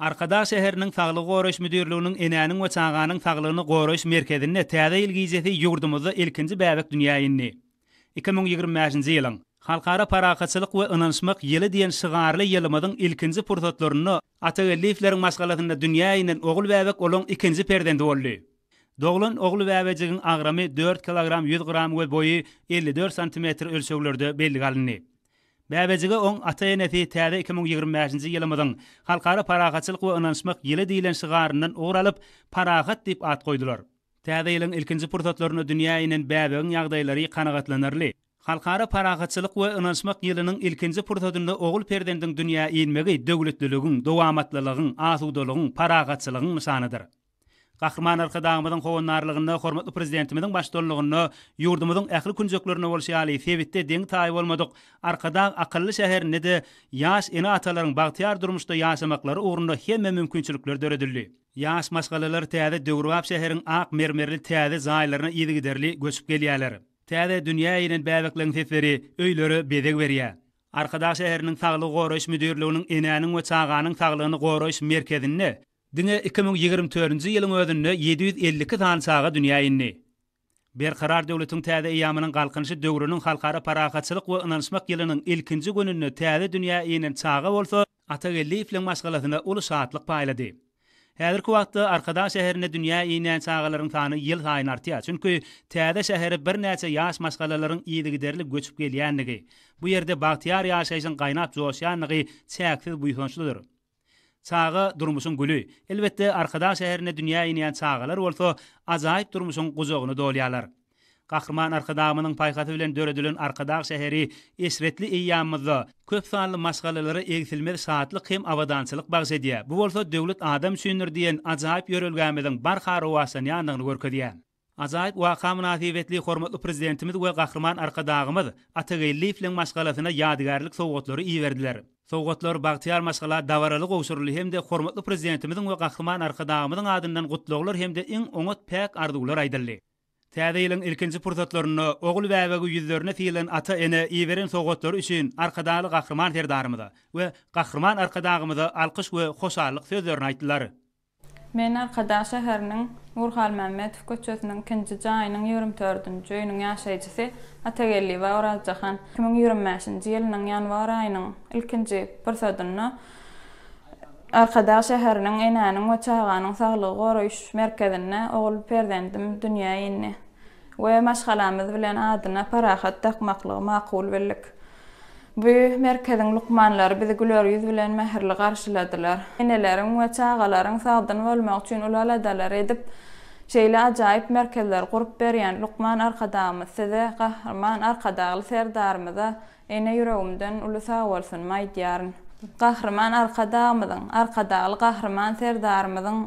Arkadag şäheriniň Saglygy goraýyş müdirliginiň Enäniň we çaganyň saglygyny goraýyş merkezinde täze ýyl gijesi ýurdumyzda ilkinji bäbek dünýä indi. Iki müň ýigrimi bäşinji ýylyň Halkara parahatçylyk we ynanyşmak ýyly diýen şygarly ýylymyzyň ilkinji pursatlarynda Atageldiýewleriň maşgalasynda dünýä inen ogul bäbek olaň ikinji perzendi boldy. Doglan ogul bäbejigiň agramy dört kilogram ýüz gram we boýy elli dört santimetr ölçeglerde bellige alyndy. Bäbejige oň ata-enesi täze iki müň ýigrimi bäşinji ýylymyzyň Halkara parahatçylyk we ynanyşmak ýyly diýlen şygaryndan ugur alyp, Parahat diýip at goýdular. Täze ýylyň ilkinji pursatlarynda dünýä inen bäbegiň ýagdaýlary kanagatlanarly. Halkara parahatçylyk we ynanyşmak ýylynyň ilkinji pursatynda ogul perzendiň dünýä inmegi döwletliligiň, dowamatlylygyň, asudalygyň, parahatçylygyň nyşanydyr. Gahryman Arkadagymyzyň howandarlygynda hormatly Prezidentimiziň baştutanlygynda ýurdumyzyň ähli künjeklerinde bolşy ýaly sebitde deňi-taýy bolmadyk Arkadag akylly şäherinde-de ýaş ene-atalaryň bagtyýar durmuşda ýaşamaklary ugrunda hemme mümkinçilikler döredildi. Ýaş maşgalalar täze döwrebap şäheriň ak mermerli täze jaýlaryna yzygiderli göçüp gelýärler. Täze dünýä inen bäbekleň sesleri öýlere bezeg berýär. Arkadag şäheriniň Saglygy goraýyş müdirliginiň Enäniň we çaganyň saglygyny goraýyş merkezinde Diňe iki müň ýigrimi törünji ýylyň özünde ýedi ýüz elli iki sany çaga dünýä indi. Berkarar döwletiň täze eýýamynyň Galkynyşy döwrüniň Halkara parahatçylyk we ynanyşmak ýylynyň ilkinji gününde täze dünýä inen çaga bolsa Atageldiýewiň maşgalasyna uly şatlyk paýlady. Häzirki wagtda Arkadag şäherinde dünýä inýän çagalaryň sany ýylsaýyn artýar, çünki täze şähere birnäçe ýaş maşgalalaryň yzygiderli göçüp gelýändigi, bu ýerde bagtyýar ýaşaýşyň gaýnap joşýandygy çäksiz buýsançlydyr. Çaga, durmuşyň güli. Elbetde, Arkadag şäherinde dünýä inýän çagalar bolsa ajaýyp durmuşyň gujagyny dolýarlar. Gahryman Arkadagymyzyň paýhasy bilen döredilen Arkadag şäheri eşretli eýýamymyzda köp sanly maşgalalara egsilmez şatlyk hem abadançylyk bagyş edýär. Bu bolsa Döwlet adam üçindir diýen ajaýyp ýörelgämiziň barha rowaçlanýandygyny görkezýär. Ajaýyp waka mynasybetli hormatly Prezidentimiz we Gahryman Arkadagymyz Atageldiýewiň maşgalasyna ýadygärlik sowgatlary iberdiler. Sowgatlar bagtyýar maşgala dabaraly gowşuryldy hem-de hormatly Prezidentimiziň we Gahryman Arkadagymyzyň adyndan gutlaglar hem-de iň oňat päk arzuwlar aýdyldy. Täze ýylyň ilkinji pursatlarynda ogul-bäbegi ýüzlerine sylan ata-ene iberen sowgatlary üçin Arkadagly Gahryman Serdarymyza we Gahryman Arkadagymyza alkyş we hoşallyk sözlerini aýtdylar. Men Arkadag şäheriniň Nurhalmämmedow köçesiniň ikinji jaýynyň ýigrimi dördünji öýüniň ýaşaýjysy Atageldiýewa Orazjahan. Iki müň ýigrimi bäşinji ýylynyň ýanwar aýynyň ilkinji pursadynda Arkadag şäheriniň Enäniň we çaganyň saglygy goraýyş merkezinde ogul perzendim dünýä indi. we maşgalamyz bilen adyna Parahat dakmaklygy makul bildik. Bu merkeziň lukmanlary bizi güler ýüz bilen mähirli garşyladylar. Eneleriň we çagalaryň sagdyn bolmagy üçin uly aladalary edip, şeýle ajaýyp merkezleri gurup berýän lukman Arkadagymyz size, Gahryman Arkadagly Serdarymyza Ene ýüregimden uly sagbolsun maýdýaryn. Gahryman Arkadagymyzyň, Arkadagly Gahryman Serdarymyzyň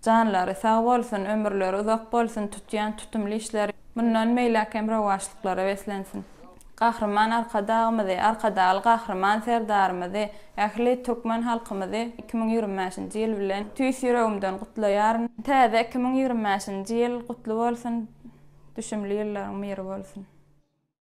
janlary sag bolsun, ömürleri uzak bolsun, tutýan tutumly işleri mundan beýläkem rowaçlyklara beslensin. Gahryman Arkadagymyzy, Arkadagly Gahryman Serdarymyzy, ähli türkmen halkymyzy iki müň ýigrimi bäşinji ýyl bilen tüýs ýüregimden gutlaýaryn. Täze iki müň ýigrimi bäşinji ýyl gutly bolsun, düşümli ýyllaryň myry bolsun!